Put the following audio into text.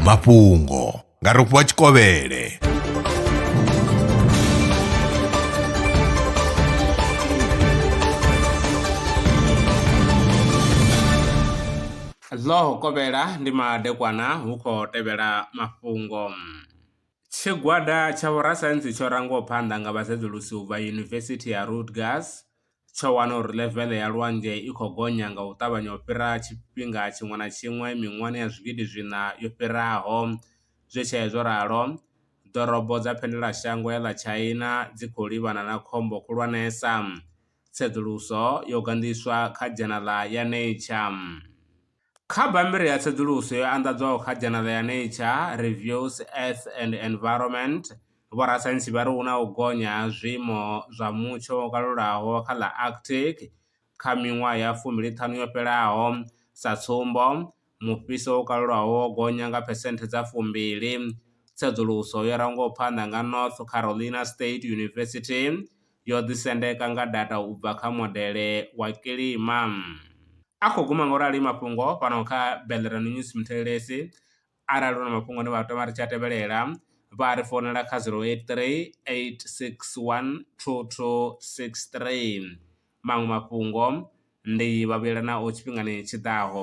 mafhungo nga rofhiwa tshikovhele ḽo kovhela ndi madekwana hu khou tevhela mafhungo Tshigwada tsha vhorasaintsi tsho rangwaho phanḓa nga vhasedzulusi u bva Yunivesithi ya Rutgers tsho wana uri level ya lwanzhe i kho gonya nga u ṱavhanya u fhira tshifhinga tshiṅwe na tshiṅwe miṅwahani ya zwigidi zwiṋa yo fhiraho. Zwi tshee zwo ralo, ḓorobo dza vhuendelamashango ya ḽa China dzi khou livhana na khombo khulwanesa. Tsedzuluso yo gandiswa kha dzhanala ya Nature. Kha bammbiri ya tsedzuluso yo anḓadzwaho kha dzhanele ya Nature reviews, Earth and Environment, vhorasaintsi vha ri hu na u gonya ha zwiimo zwa mutsho wo kalulaho kha ḽa Arctic kha miṅwaha ya fumi-li ṱhanu yo fhelaho. Sa tsumbo, mufhiso wo kalulaho wo gonya nga phesenthe dza fumbili. Tsedzuluso yo rangwaho phanḓa nga North Carolina State University yo ḓisendeka nga data u bva kha modele wa kilima. A khou guma nga u rali mafhungo fhano kha Bellerano News Muthelelesi. Arali u na mafhungo ane vha tama ri tshi a tevhelela, vha ri founela kha 0838612263. Maṅwe mafhungo ndi vhavhuyelanaho tshifhingani tshi ḓaho.